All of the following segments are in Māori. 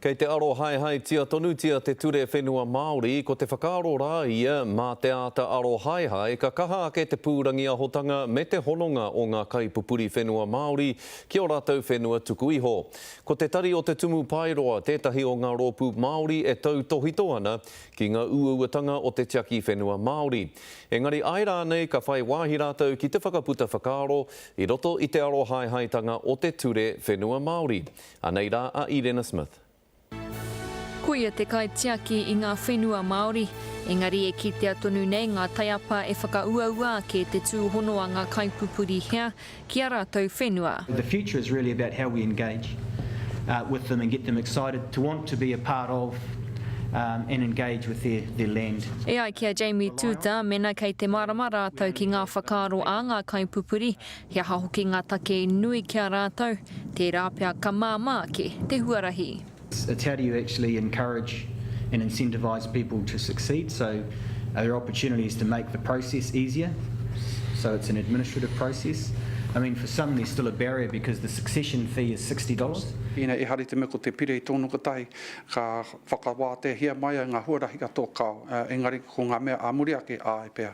Kei te arohaehaetia tonutia te ture whenua Māori, ko te whakaaro rā ia, mā te āta arohaehae ka kaha ake te pūrangiahotanga me te hononga o ngā kaipupuri whenua Māori ki ō rātou whenua tuku iho. Ko Te Tari o Te Tumu Paeroa tētahi o ngā rōpū Māori e tautōhito ana ki ngā uauatanga o te tiaki whenua Māori. Engari āe rānei ka whai wāhi rātou ki te whakaputa whakaaro i roto i te arohaehaetanga o te ture whenua Māori. Anei rā a Irena Smith. Ko ia te kaitiaki i ngā whenua Māori, engari e kitea tonu nei ngā taiapa e whakauaua ake te tūhono a ngā kaipupuri hea ki ā rātou whenua. The future is really about how we engage with them and get them excited to want to be a part of and engage with their land. E ai ki a Jamie Tuuta, mena kei te mārama rātou ki ngā whakaaro a ngā kaipupuri, He aha hoki ngā take i nui ki a rātou, tērā pea ka māmā ake te huarahi. It's how do you actually encourage and incentivise people to succeed, so are there opportunities to make the process easier, so it's an administrative process. I mean for some there's still a barrier because the succession fee is sixty dollars. Ina ehari te mea ko te pire i tōna kotahi, ka whakawāteahia mai ai ngā huarahi katoa kāo, engari ko ngā mea ā muri ake, āe pea.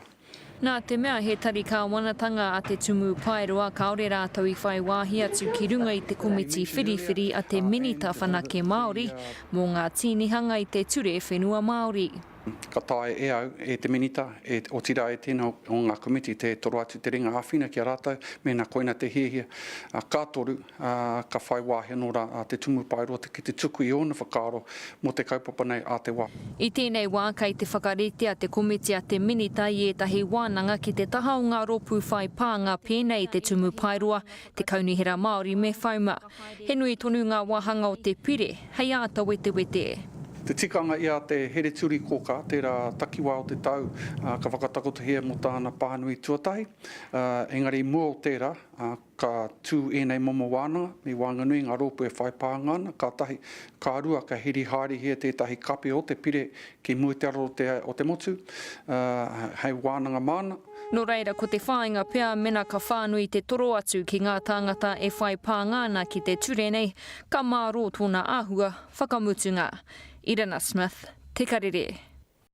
Nā te mea he tari kāwanatanga a Te Tumu Paeroa kāore rātou i whai wāhi atu ki runga i te komiti whiriwhiri a te Minita Whanake Māori mō ngā tīnihanga i te Ture Whenua Māori. Ka taea e au, e te Minita, otirā e tēnā o ngā komiti te toro atu te ringa āwhina ki a rātou mēnā koina te hiahia. Ka toru, ā, ka whai wāhi anō rā a Te Tumupaerote ki te tuku i ōna whakaaro mō te kaupapa nei ā te wā. I tēnei wā kei te whakaritea te komiti a te Minita i ētahi wānanga ki te taha o ngā rōpū whai pānga pēnei i te Tumupaeroa, te Kaunihera Māori me FOMA. He nui tonu ngā wāhanga o te pire hei āta wetewete. Te tikanga i a Te Hereturikōkā tērā takiwā o te tau ka whakatakotohia mō tāna pānui tuatahi, engari i mua o tērā, Ka tū ēnei momo wānanga i waenganui i ngā rōpū e whai pānga ana, ka tahi. Ka rua, ka hiri haerehia tētahi kape o te pire ki mua i te ara o te motu, hei wānanga māna. Nō reira, ko te whāinga pea mena ka whānui te toro atu ki ngā tāngata e whai pānga ana ki te ture nei, ka mārō tōna āhua whakamutunga. Irina Smith, Te Karere.